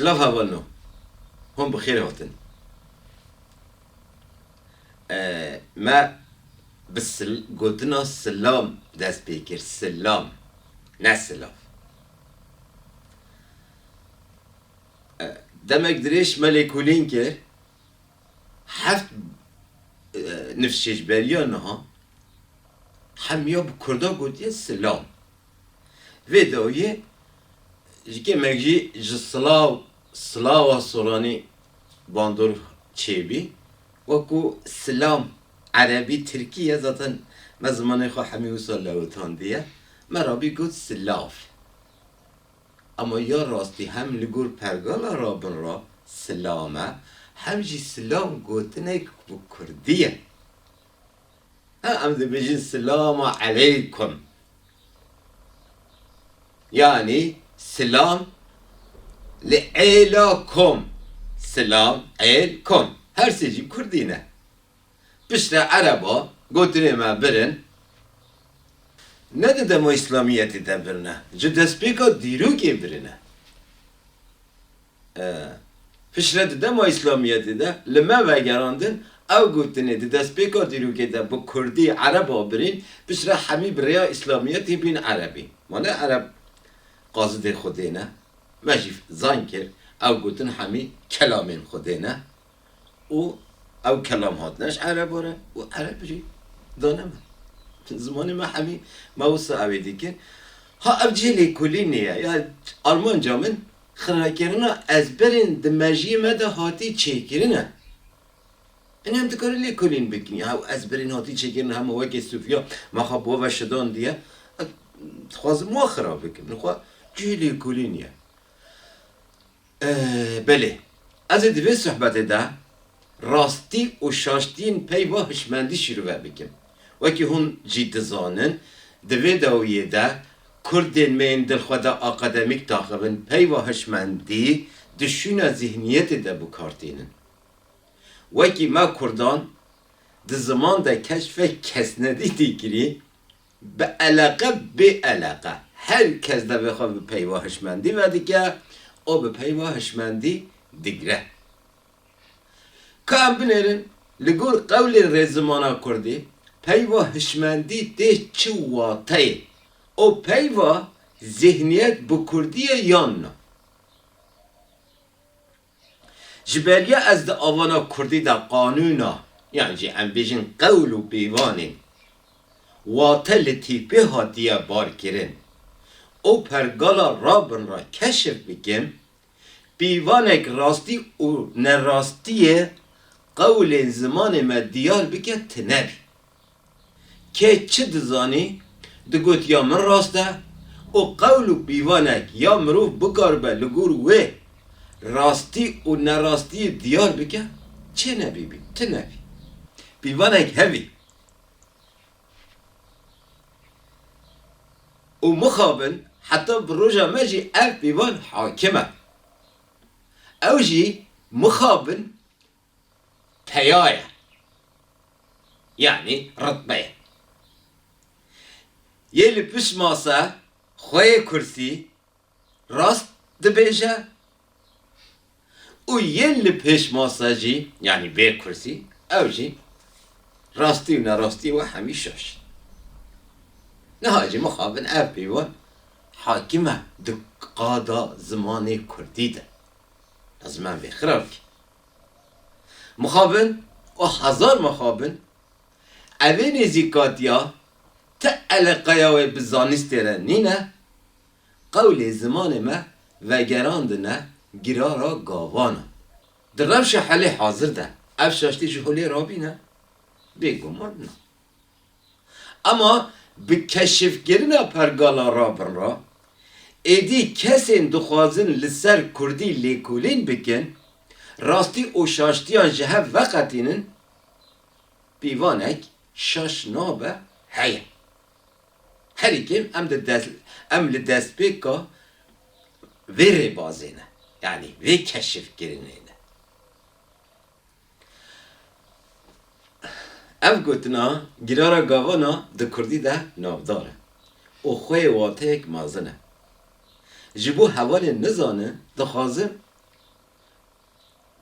Silav hevalno, hûn bi xêr hatin. Me bi gotina silam dest pê kir, silam ne silav. Demek dirêj me lêkolîn kir, heft nifşêcberiya niha hemiya bi kurda gotiye silam. Vê dawiyê ji kêmek jî ji silav silava soranî bandor çêbî. Wekû silam erebî tirkî ye zaten me zimanê xwe hemî wisa lewitandiye. Me rabî got silav. Ama ya rastî hem li gor pergala rabin re silam e hem jî silam gotinek bi kurdî ye. Em dibêjin silama eleykum yanî silam li êla kom, silam êl kom her sê jî kurdî ne. Piştre ereba gotinê me birin ne di dema îslamiyetê de birine ji destpêka dîrokê birine. Piştre di dema îslamiyetê de li me vegerandin ew gotinê di destpêka dîrokê de bi kurdî ereb a birîn, piştre hemî bi rêya îslamiyetê bîn erebî. Ma ne ereb qazidê xwedê ne? Me jî zan kir ew gotin hemî kelamên xwedê ne. û ew kelam hatine ji erebo re û ereb jî dane min. Zimanê me hemî me wisa ewê dîkir. Ha ev cihê lêkolînê ye ya armanca min xirabkirina ezberên di mejiyê me de hatî çêkirin e. Înan em dikarin lêkolîn bikin ya ew ezberên hatî çêkirin hema wekî Sofya me xwe bi we ve şidandiye. Ez dixwazim wan xirab bikim. Li xwe cihê lêkolîn ye. Belê, ez ê di vê sohbetê de rastî û şaştiyên peyva hişmendî şîrove bikim. Wekî hûn jî dizanin, di vê dawiyê de kurdên me yên dilxweda akademîk daxivin peyva hişmendî di şûna zîhniyetê de bikar tînin. Wekî me kurdan di ziman de keşfek kesnedî tê kirî, Bi eleqe bê eleqe her kes devê xwe bi peyva hişmendî vedike û bi peyva hişmendî digire. Ka em binêrin li gor qewlê rêzimana kurdî peyva hişmendî tê çi wateyê û peyva zîhniyet bi kurdî ye yan na? Ji beriya ez di avana kurdî de qanûna yan jî em bêjin qewl û pîvanên wate li tîpê hatiye barkirin û pergala rabin re keşif bikim, pîvanek rastî û nerastiyê qewlên zimanê me diyar bike tune bî. Kê çi dizanî, digot ya min rast e û qewl û pîvanek ya mirov bikaribe li gor wê rastî û nerastiyê diyar bike, çê ne bîbî, tu ne bî. Pîvanek hevî û mixabin heta bi roja me jî ev pîvan hakim e. Ew jî mixabin peya ye, yanî ritbe ye. Yê li pişt masa xwe yê kursî rast dibêje û yê li pêş masa jî, yanî bê kursî, ew jî rastî û nerastî we hemî şaş. Niha jî mixabin ev peyvan hakîm e di qada zimanê kurdî de. Lazim e vê xirabî Mixabin û hezar mixabin, evê nêzîkatiya ti eleqeya wê bi zanistê re nîne, qewlê zimanê me vegerandine gira ra gavan e. Di rewşa halê hazir de ev şaştî ji holê rabîne? Bêguman na. Ema bi keşifkirina pergala Rabinra, êdî kesên dixwazin li ser kurdî lêkolîn bikin, rastî û şaştiyan ji hev veqetînin, pîvanek şaş nabe heye. Herî kêm em di dest em li destpêka vê rêbazê ne, yanî vê keşifkirinê ne. Ev gotina Girara Gavan a di kurdî de navdar e û xwe yê wateyek mezin e. Ji bo hevalên nizanin dixwazim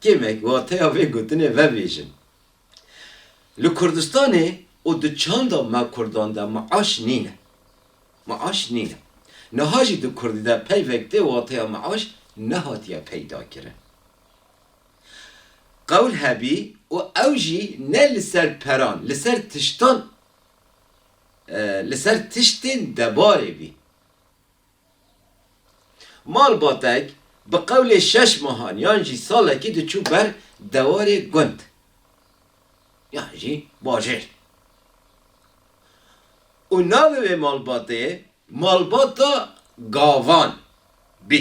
kêmek wateya vê gotinê vebêjim. Li Kurdistanê û di çanda me kurdan de maaş nîne. Maaş nîne. Niha jî di kurdî de peyvek tê wateya maaş nehatiye peydakirin. Qewl hebî û ew jî ne li ser peran, li ser tiştan, li ser tiştên debarê bî. Malbatek bi qewlê şeş mehan yan jî salekî diçû ber dewarê gund yan jî bajêr û navê wê malbatê Malbata Gavan bî.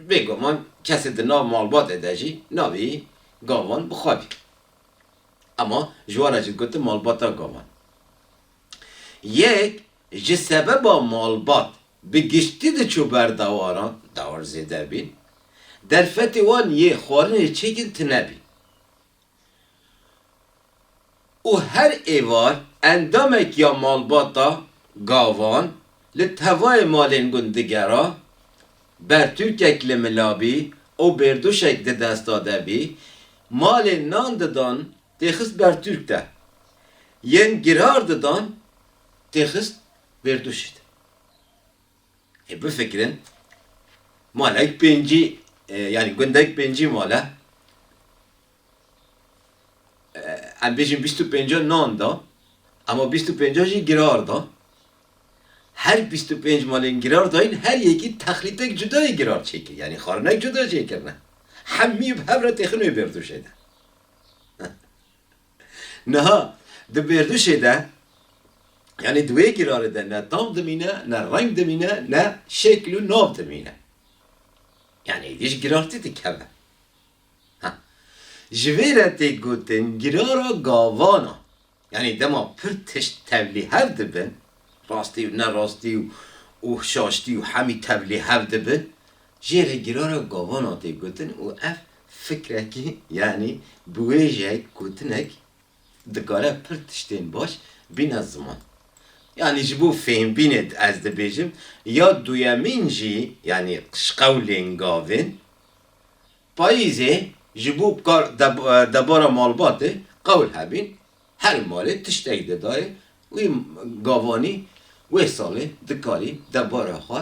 Bêguman kesê di nav malbatê de jî navê gavan bi xwe bî. Ema ji wan re jî digotin malbata gavan. Yek ji sebeba malbat bi giştî diçû ber dawaran, dawar zêde bîn, derfetê wan yê xwarinê çêkin tune bî. û her êvar endamek ya malbata gavan li tevayê malên gund digera, bertûkek li mila bî û bêrduşek di desta de bî, malên nan didan tê xist bertûk de, yên girar didan tê xist bêrduşî de. Ê bifikirin, malek pêncî yanî gundek pêncî mal e. Em bêjin bîst û pênca nan da, ema bîst û pênca jî girar da. Her bîst û pênc malên girar dayîn her yekî texlîtek cudayê girar çêkir yanî xarinek cuda çêkirine. Hemî bi hev re têxin wê bêrdûşê de. Niha di bêrduşê de yanî di wê girarê de ne tam dimîne, ne reng dimîne, ne şekil û nav dimîne. Yanî êdî ji girartî dikeve. Ha. Ji vê re tê gotin girara gavan a. Yanî dema pir tişt tevlî hev dibin, rastî û nerastî û û şaştî û hemî tevlî hev dibin, jê re girara gavan a tê gotin û ev Fikrekî yanî biwêjeyek, gotinek dikare pir tiştên baş bîne ziman. Yanî ji bo fêmbînê ez dibêjim ya duyemîn jî yanî qişqewlên gavên payîzê ji bo kar debara malbatê qewl hebîn her malê tiştek didayê wî gavanî wê salê dikarî debara xwe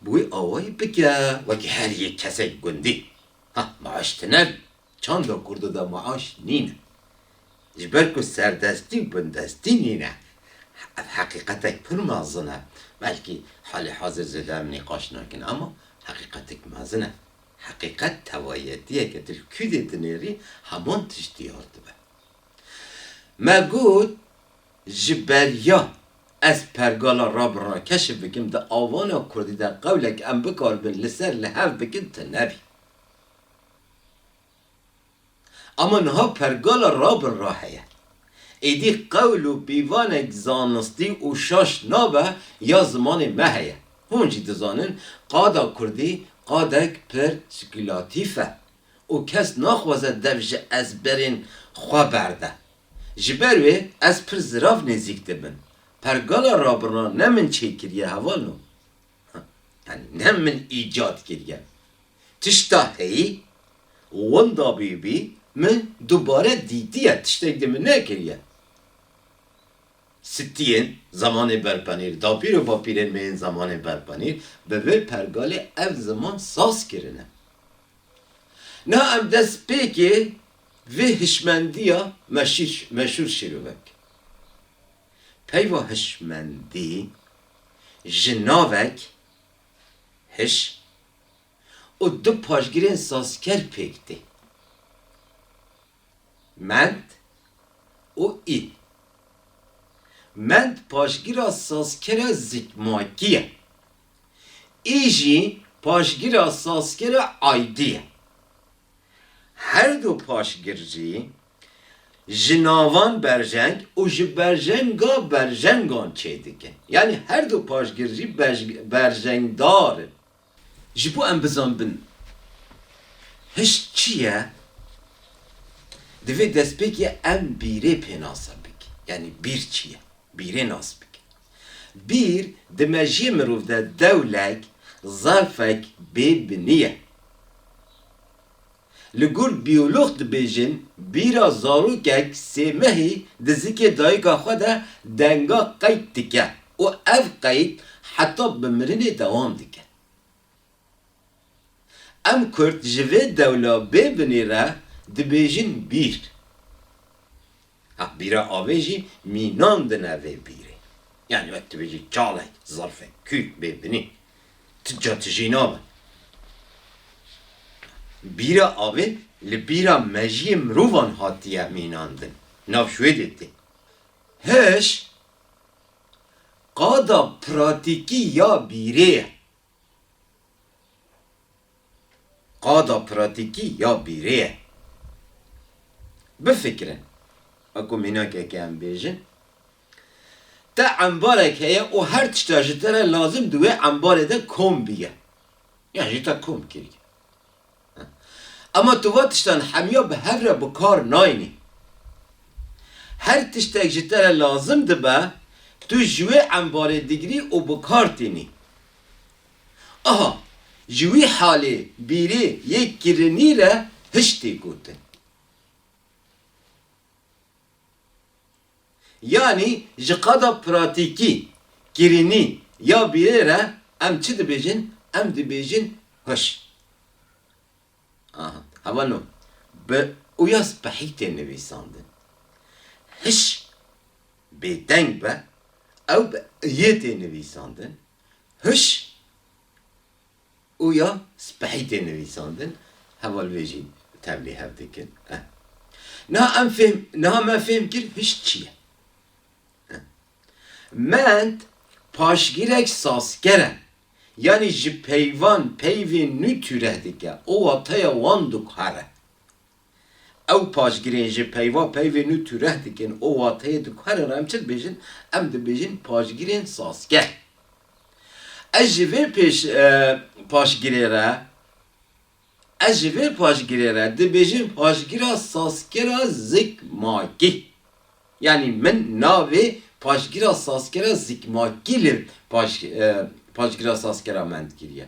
bi wî awayî bike wekî her yek kesek gundî. Ah maaş tune bî, çanda kurdo de maaş nîne. Ji ber ku serdestî û bindestî nîne. Ev heqîqetek pir mezin e. Belkî halê hazir zêde em nîqaş nakin ama heqîqetek mezin e. Heqîqet tevayetiyek e. Tu li kûdê dinêrî heman tişt diyar dibe. Me got. Ji ber ya ez pergala rabirina keşf bikim di avana kurdî de qewlek em bikaribin li ser li hev bikin tune bî. Ama niha pergala rabirina heye. Êdî qewl û pîvanek zanistî û şaş nabe ya zimanê me heye. Hûn jî dizanin qada kurdî qadek pir spekulatîf e û kes naxwaze dev ji ezberên xwe berde. Ji ber wê ez pir zirav nêzîk dibim. Pergala rabiran ne min çêkiriye heval no. Yanî ne min îcat kiriye. Tişta heyî û winda bîbî min dubare dîtiye, tiştek di min nekiriye. Sitiyên zemanê berpenîr, dapîr û bapîrên me yên zemanê berpenîr bi vê pergalê ev ziman saz kirine. Niha em destpêkê Vê hişmendiya meşûr şîrovek. Peyva hişmendî ji navek, hiş, û du paşgirên sazker pêk tê, mend û î. Mend paşgira sazkera zikmakî ye. Î jî paşgira sazkera aydî ye. Her du paşgir jî ji navan berjeng û ji berjenga berjengan çê dikin. Yanî her du paşgir jî berjengdar in. Ji bo em bizanbin hişk çi ye, divê destpêkê em bîrê pênasa bikin. Yanî bîr çi ye? Bîrê nas bikin. Bîr di mejiyê mirov de dewlek, zarfek bê binî ye. Li gor biyolog dibêjin bîra zarokek sê mehî di zikê dayika xwe de denga qeyd dike û ev qeyd heta bi mirinê dewam dike. Em kurd ji vê dewla bê binê re dibêjin bîr. Heh bîra avê jî mînan dine vê bîrê. Yanî wek tu bêjî çalek, zerfek, kûk bê binê. Tu ca tu jî nabe. Bîra avê li bîra mejiyê mirovan hatiye mînandin. Nav Şwêdê tê. Hiş qada pratîkî ya bîrê ye. Qada pratîkî ya bîrê ye. Bifikirin, weko mînakeke em bêjin, te embarek heye û her tişta ji te re lazim di wê embarê de kom bîye, yan jî te kom kiriye. Ama tu van tiştan hemiya bi hev re bi kar nayînî. Her tiştek ji te re lazim dibe, tu ji wê embarê digrî û bi kar tînî. Aha, ji wî halê bîrê yê kirinî re hişt tê gotin. Yanî ji qada pratîkî, kirînî ya bîrê re em çi dibêjin? Em dibêjin huş. Aha, heva no bi uya spehî tê nivîsandin. Hiş bêdeng be, ew bi iyê tê nivîsandin. Huş. û ya spehî tê nivîsandin, heval vê jî tevlî hev dikin. Niha em fêm, niha me fêm kir hişt çi ye. Mend paşgirek sazker e, yanî ji peyvan peyvên nû tûreh dike û wateya wan dûkar e. Ew paşgirên ji peyva peyvê nû tureh dikin û wateyê diguherin re em çi dibêjin? Em dibêjin paşgirên sazger. Ez ji vê pêş paşgirê re ez ji vê paşgirê re dibêjin paşgira sazgera zikmakî. Yanî min navê paşgira sazgera zikmakî li paş paşgira sazgera me dikiriye.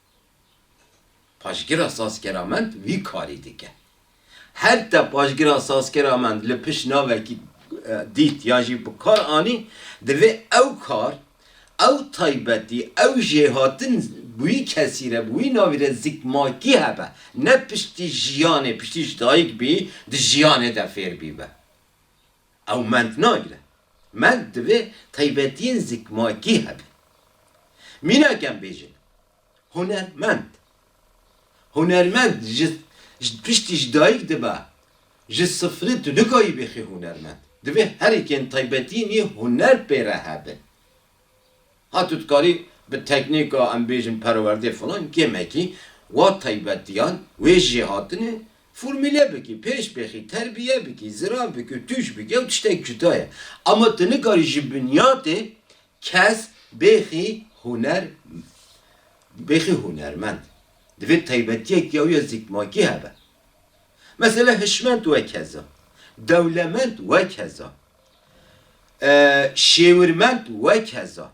Paşgira sazkera mend vî karî dike. Her te paşgira sazkera mend li pişt navekî dît yan jî bi kar anî, divê ew kar, ew taybetî, ew jêhatin bi wî kesî re, bi wî navî re zikmakî hebe. Ne piştî jiyanê, piştî ji dayik bî, di jiyanê de fêr bîbe. Ew mend nagire. Mend divê taybetiyên zikmakî hebe. Mîna kem bêjin hunermend. Hunermend ji piştî ji dayik dibe. Ji sifirê tu nikayî bixî hunermend. Divê herikên taybetiyên wî huner pê re hebin. Hatû dikarî bi teknîka em bêjin perwerdê filan gemekî wa taybetiyan wê jêhatinê formîle bikî, pêşbêxî, terbiye bikî, zira bikî û tûj bikî ew tiştek cuda ye. Ama tu nikarî ji binyatê kes bêxî huner bêxî hunermend. Divê taybetiyek ya wî ya zikmakî hebe. Mesela hişmend wekeza, dewlemend wekeza. Şêwirmend wek heza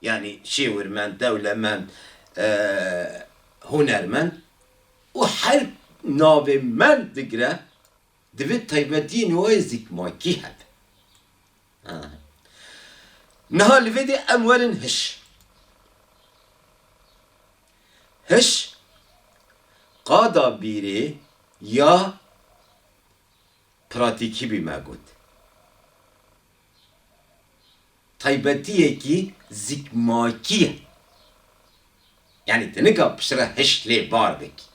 yanî şêwirmend, dewlemend, hunermend û her navê mend digire divê taybetiyên wê zikmakî hebe. Niha li vê dê em werin hiş. Hiş qada bîrê ya. Pratîkî bî me got. Taybetiyekî zikmakî ye. Yanî tu nika piştre hiş lê bar bikî.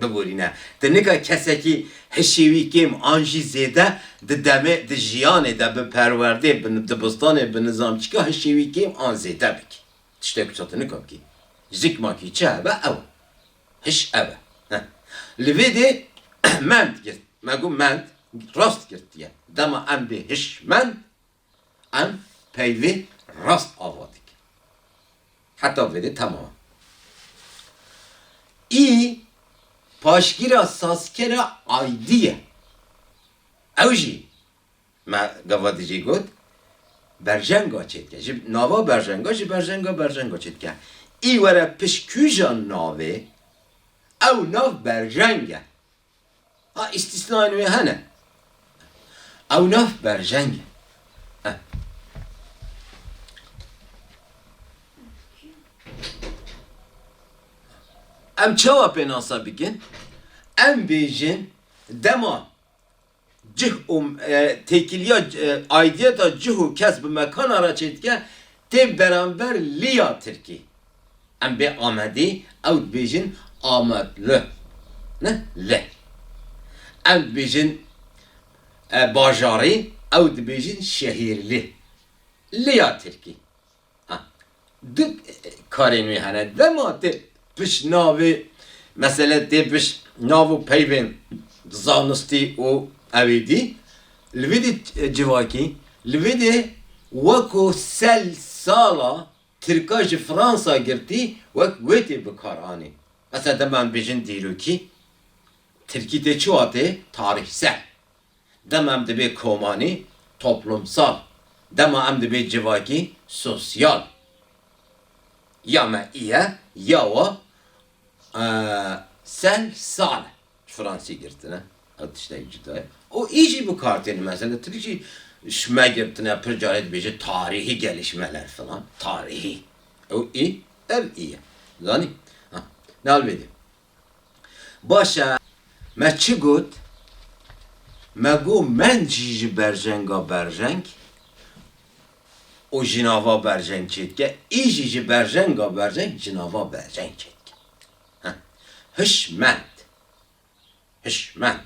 Biborîne, tu nika kesekî hişê wî kêm an jî zêde di demê, di jiyanê de bi perwerdê, bi dibistanê, bi nizamçîka hişê wî kêm an zêde bikî. Tiştê ku tu nika bikî. Zikmakî çi hebe ew e. Hiş ev e. Heh. Li vê dê mend girt, me got mend, rast girtiye. Dema em bê hişmend, em peyvê rast ava dikin. Heta vê dê temam e. Î paşgîra sazkera aydî ye. Ew jî Me gava di jî got, Berjenga çêdike. Ji nava berjenga ji berjenga berjenga çêdike. Î were pişt kûja navê, ew nav berjeng e. Ha îstîsnayên wê hene. Ew nav berjeng e. Em çawa pênasa bikin? Em bêjin dema Cih û têkiliya aidiyeta cih û kes bi mekana re çêdike tên beramber liya tirkî. Em bê Amedî ew dibêjin Amadlı ne lı. Em dibêjin bajarî ew dibêjin şehîrli liya tirkî. Du karên wê hene. Dema tê pişt navê mesele tê pişt nav û peyvên zanistî û ewê dî li vê dî civakî li vê dê weko sel sala tirka ji Fransa girtî wek wê tê bikar anî. Mesela dema em bêjin dîrokî tirkî tê çi watê tarih sel. Dema em dibê komanî, toplumsal, dema em dibê civakî, sosyal, ya me îye, ya wa sel, sal, ji fransî girtine, ew tiştek cuda ye û î jî bi kar têne. Mesela tirk jî ji me girtine, pir carê dibêje tarîhî gelişmeler filan, tarîhî, ew î, ev î ye. Zanî? Ha, li alvê de Baş e, me çi got? Me got mend jî ji berjenga berjeng û jinava berjeng çêdike, î jî ji berjenga berjeng jinava berjeng çêdike. Heh, hiş mend. Hiş mend.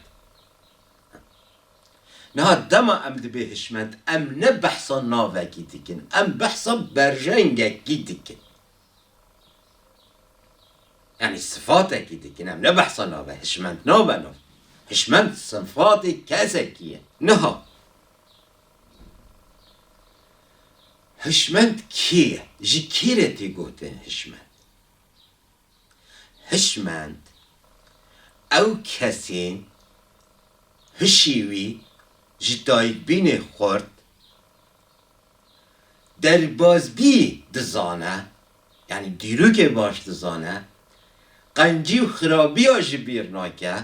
Niha dema em dibê hiş mend, em ne behsa navekî dikin, em behsa berjengekî dikin. Yanî sifatekî dikin em ne behsa nave hişmend nabe nav. Hişmend sifatê kesekî ye. Niha hişmend kê ye? Ji kê re tê gotin hişmend? Hişmend ew kesên hişê wî ji dayikbînê xurt, Derbazbî dizane, yanî dîrokê baş dizane, qencî û xirabiya jî bîr nake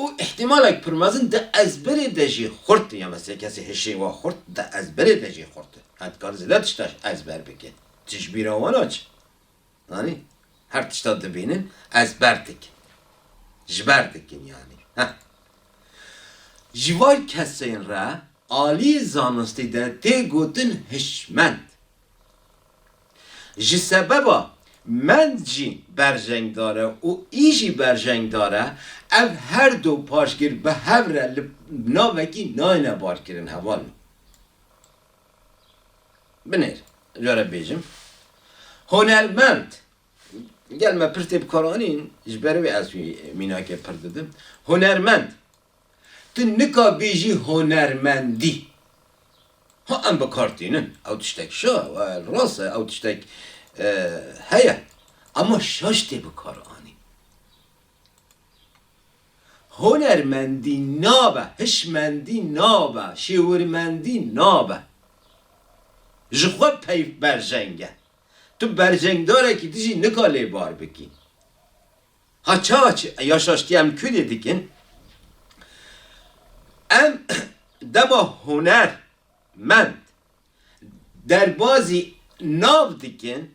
û îhtîmalek pir mezin di ezberê de jî xurt e, ya mesela kesê hişê wa xurt di ezberê de jî xurt e, ya dikare zêde tiştaş ezber bike, tijbîra wan a çi? Anî? Her tişta dibînin ez ber dikim. Ji ber dikim yanî. Heh. Ji van kesên re aliyê zanistî de tê gotin hişmend. Ji sebeba mend jî berjengdar e û î jî berjengdar e, ev her du paşgir bi hev re li navekî nayêne barkirin hevalin. Binêr, cware bêjim. Hunermend, gel me pir tê bikaranîn, ji ber wê ez wî mînakê pir didim. Hunermend, tu nika bêjî hunermendî. Ha em bi kar tînin, ew tiştek şa, wel rast e, ew tiştek heye. Ema şaş tê bikaranîn. Hunermendî nabe, hişmendî nabe, şêwirmendî nabe. Ji xwe peyv berjeng e. Tu berjengdarekî dijî nika lê bar bikî. Ha ça çi? Ya şaştiya em Kurdê dikin. Em dema huner mend derbazî nav dikin,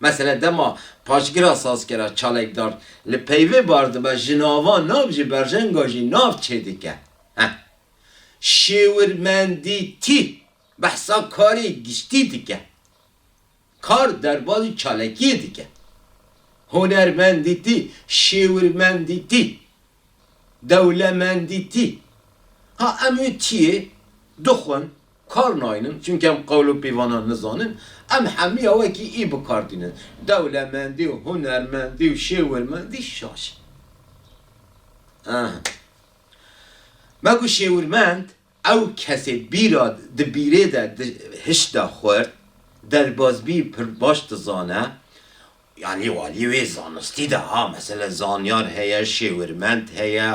Mesele dema paşgira sazkera çalekdar li peyvê bar dibe ji nava nav ji berjenga jî nav çêdike. Heh. Şêwirmendî tî behsa karê giştî dike. Kar derbazî çalekiyê dike. Hunermendî tî, şêwirmendî tî. Dewlemendî tî. Ha em wê tiyê dixwin, kar naynin çunke em qewl û pîvanan nizanin, em hemiya wekî î bi kar tînin. Dewlemendî û hunermendî û şêwirmendî şaş e. Aha. Me got şêwirmend. Ew kesê bîra di bîrê de di hişt de xurt, derbazbî pir baş dizane, yanî walî wê zanistî de ha, mesele zanyar heye, şêwirmend heye,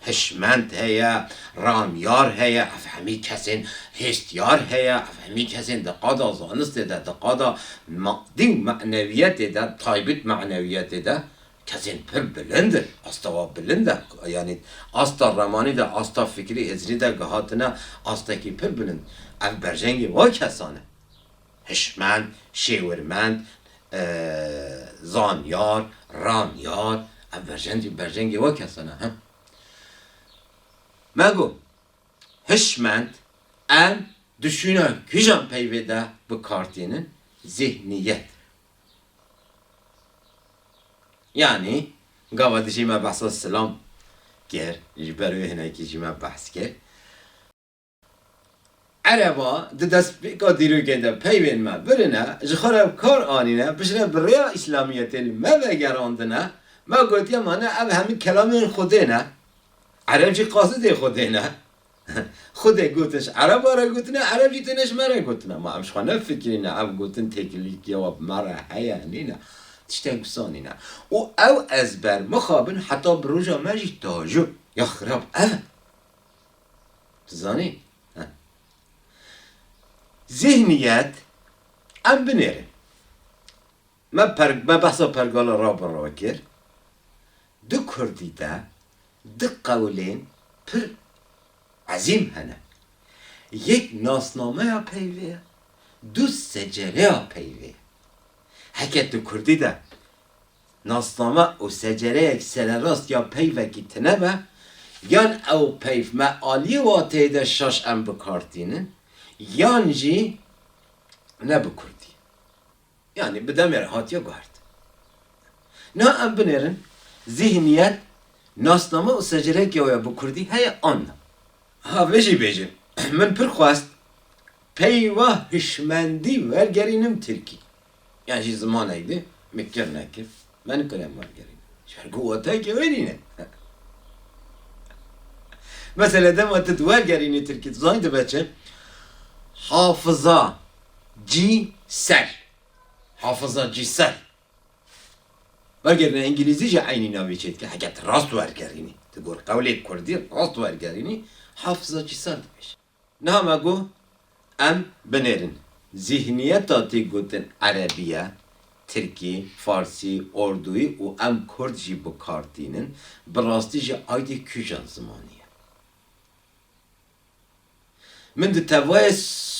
hişmend heye, ramyar heye, ev hemî kesên hêstiyar heye, ev hemî kesên di qada zanistê de, di qada madî û menewiyetê de, taybit menewiyetê de Kesên pir bilind in, asta wan bilind e, yanî asta remanî de, asta fikrî hêzirî de gihatine astekî pir bilind. Ev berjengê wan kesan e. Hişmend, şêwirmend, zanyar, ranyar, ev berjengê berjengê wan kesan e. Me got, hişmend, em dişûna kîjan peyvê de bi kar tînin? Zîhniyet. Yanî gava dijî me behsa silam kir, ji ber wê hinekî jî me behs kir. Ereba di destpêka dîrokê de peyvên me birine, ji xwe re bi kar anîne, piştre bi rêya îslamiyetê li me vegerandine, me gotiye ma ne ev hemû kelamên xwedê ne, ereb jî qasidê xwedê ne, Xwedê gotiş ereba re gotine, ereb jî têne ji me re gotine. Ma em ji xwe nefikirîne ev gotin têkilîtiya we bi me re heye, nîne. Tiştek wisa nîne. Û ew ezber mixabin heta bi roja me jî tajo ya xirab ev e. Tu zanî? He. Zîhniyet em binêrin. Me per me behsa pergala raberawê kir. Di kurdî de du qewlên pir ezîm hene. Yek nasnameya peyvê ye, du secereya peyvê ye. Heke di kurdî de nasname û secereyek sererast ya peyvekî tine be, yan ew peyv me aliyê wateyê de şaş em bi kar tînin, yan jî ne bi kurdî. Yanî bi demê re hatiye guhertin. Niha em binêrin zîhniyet, nasname û secreke wê bi kurdî heye an na. Ha vê jî bêjin, min pir xwest peyva hişmendî wergerînim tirkî. Yan jî zimanekdî min kir nekir Me nikare wan gerîn. Ji bo watayekî wê nîne. Mesela dema tu di wergerînê tirkî tu zanî dibe çi? Hafiza cî ser. Hafiza cî ser. Wergerîna îngîlîzî jî eynî navê çê dike. Heke tu rast wergerînî, tu gor qewlê kurdî rast wergerînî, hafiza cî ser dibêje. Niha me got em binêrin. Zîhniyeta tê gotin erebî ye, tirkî, farsî, ordûyî û em kurd jî bi kar tînin, bi rastî jî aydê kûjan zimanî ye. Min di tevayê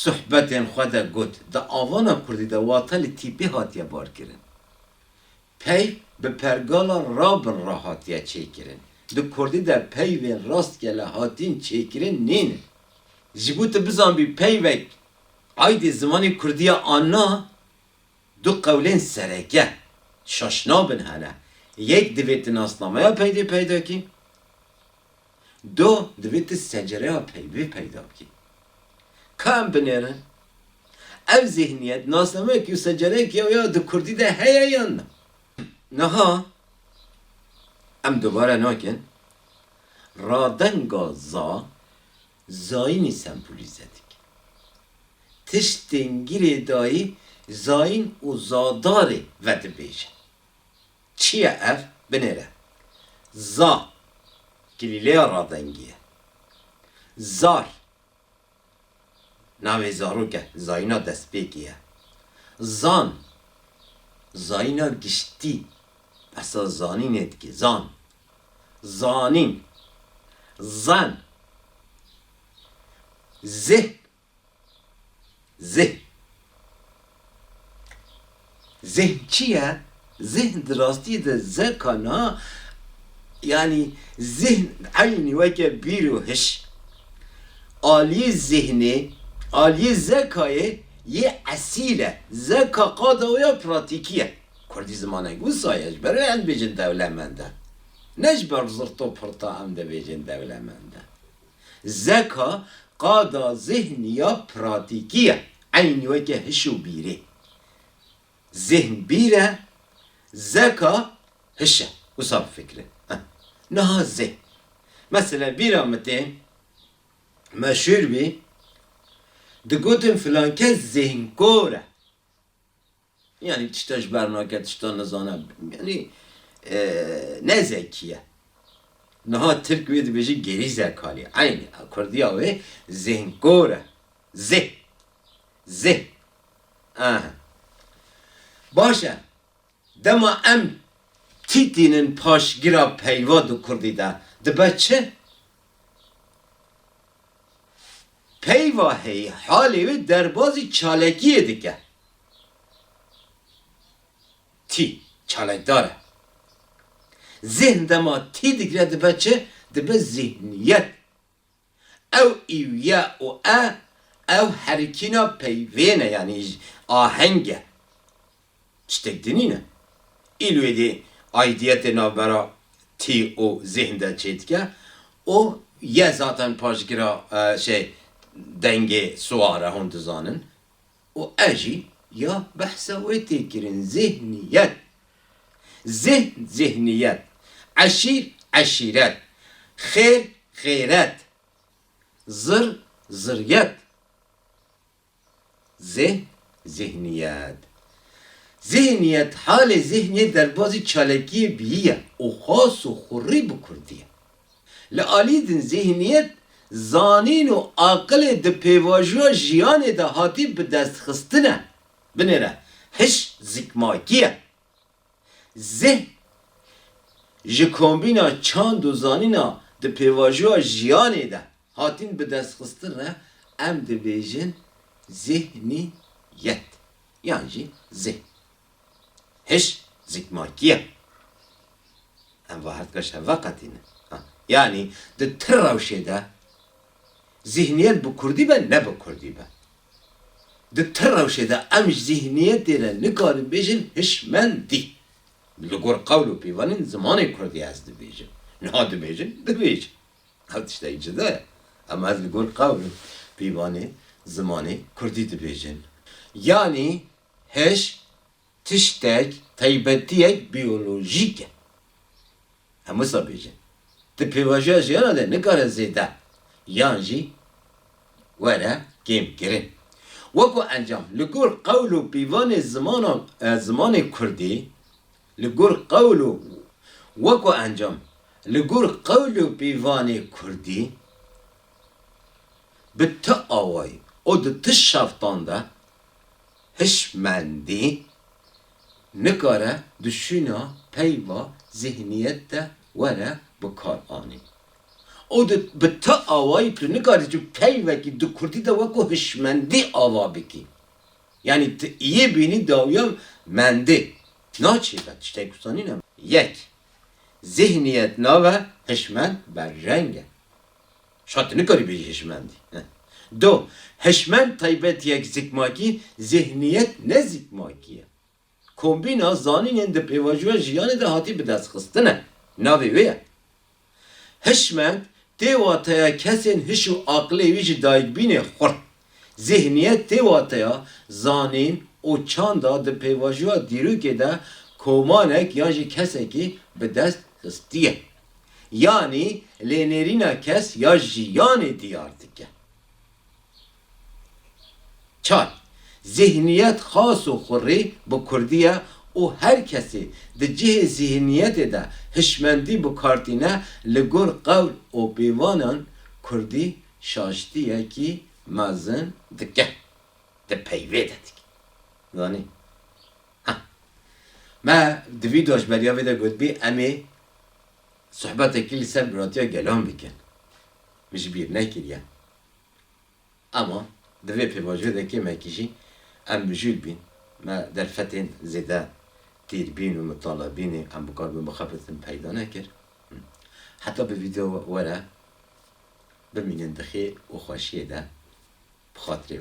suhbetên xwe de got, di avana kurdî de wate li tîpê hatiye barkirin. Pey bi pergala rabin re hatiye çêkirin. Di kurdî de peyvên rastgele hatîn çêkirin nêne. Ji bo tu bizanbî peyvek aydê zimanê kurdî ye an na, du qewlên sereke, şaşnabin hene. Yek divê tu nasnameya peydê peyda kî, Do divê tu secereya peyvê peyda bikî. Ka em binêrin ev zîhniyet nasnameyekî û secereyekî ya wê ya di kurdî de heye yan na. Niha em dubare nakin radenga za zayînî sembolîze dike. Tiştên girêdayî zayîn û zadarê vedibêje. Çi ye ev? Binêre. Za, Gilîleya ravengî ye. Zar, Navê zarok e, zayîna destpêkê ye. Zan, Zayîna giştî, behsa zanînê dike. Zan, Zanîn. Zen, Zeh, Zihn Zihn çi ye? Zihn di rastiyê de zeka na yanî zihn eynî weke bîr û hiş. Aliyê zihnê, aliyê zekayê yê esîl e. Zeka qada wê ya pratîkî ye. Kurdî zimaneke wisa ye, ji ber wê em dibêjin dewlemend e. Ne ji ber zirto pirta em dibêjin dewlemend e. Zeka qada zihn ya pratîkî ye, eynî weke hiş û bîrê. Zihn bîr e, zeka hiş e. Wisa bifikirin. Niha zê. Mesele bîra min tê, meşûr bî, digotin filankes zihnkor e. Yanî tişta ji ber nake, tişta nizane, yanî ne zekî ye. Niha tirk wê dibêje gerî zekalî, eynî kurdiya wê zihnkor e. Zih. Zih. Aha. Baş e. Dema em tîtînin paşgira peyva di kurdî de dibe çi? Peyva heyî halê wê derbazî çalekiyê dike. Tî, çalekdar e. Zîhn dema tî digre dibe çi? Dibe zîhniyet. Ew îw ye û e, ew herikîna peyvên e yanî aheng e. Çitek dinî ne. Îlwêdê aidiyetê navbera tî û zîhn de çêdike û ye zaten paşgira şey dengê siwar e hûn dizanin û ez jî ya behsa wê tê kirin zîhniyet, zîhn zîhniyet, eşîr eşîret, xêr xêret, zir ziryet, Zeh, Zihniyet. Zihniyet, halê zihniyê derbazî çalekiyê biyî ye û xas û xurrî bi kurdî ye. Li alî din zihniyet, zanîn û aqilê di pêvajoya jiyanê de hatî bidestxistine. Binêre, hiş zikmakî ye. Zihn, ji kombîna çand û zanîna di pêvajoya jiyanê de hatîn bidestxistin re em dibêjin zihnîyet yan jî zihn. Hiş zikmakî ye. Em va her tişt hev veqetînin. Yanî di ti rewşê de zihnîyet bi kurdî be ne bi kurdî be Di ti rewşê de em ji zîhniyetê re nikarin bêjin hişmendî. Li gor qewl û pîvanên zimanê kurdî ez dibêjim. Niha dibêjin dibêj. Ev tiştekî cuda ye. Em ez li gor qewl û pîvanê zimanê kurdî dibêjin. Yanî hiş. Tiştek, taybetiyek biyolojîk e. Em wisa bêjin. Di pêvajoya jiyana de nikare zêde yan jî were kêmkirin. Weko encam, li gor qewl û pîvanê zimana zimanê kurdî, li gor qewl û Weko encam, li gor qewl û pîvanê kurdî, bi ti awayî û di ti şeftan de, Hişmendî nikare di şûna peyva zîhniyet de were bikaranî û tu bi ti awayî tu nikarî tu peyvekî di kurdî de weko hişmendî ava bikî. Yanî tu yê bînî dawiya mendê. Naçê ve tiştek wisa nîne. Yek, zîhniyet nave hişmend berreng e. Şa tu nikarî bêjî hişmendî. Do, hişmend taybetiyek zikmakî, zîhniyet ne zîkmakî ye. Kombîna zanînên di pêvajoya jiyanê de hatî bidestxistin e. Navê wê ye. Hişmend tê wateya kesên hiş û aqilê wî ji dayikbînê xurt. Zîhniyet tê wateya zanîn û çanda di pêvajoya dîrokê de komanek yan jî kesekî bi dest xistiye. Yanî lênêrîna kes ya jiyanê diyar dike. Çar, Zîhniyet xas û xurrî bi kurdî ye û her kesî di cihê zîhniyetê de hişmendî bikartîne li gor qewl û pêvanan kurdî Şaştiyekî mezin dike. Di peyvê de dike. Zanî? Ha. Me di vîdyoa ji beriya vê de gotibî em ê sohbetekî li ser biratiya gelan bikin. Min ji bîr nekiriye. Ema di vê pêvajoyê de kêmekî jî em mijûl bîn. Me derfetên zêde tîrbîn û mitalebînê em bikaribin bixebitin peyda nekir. Heta bi vîdyoa were Bimînin bi xêr û xweşiyê de bi xatirê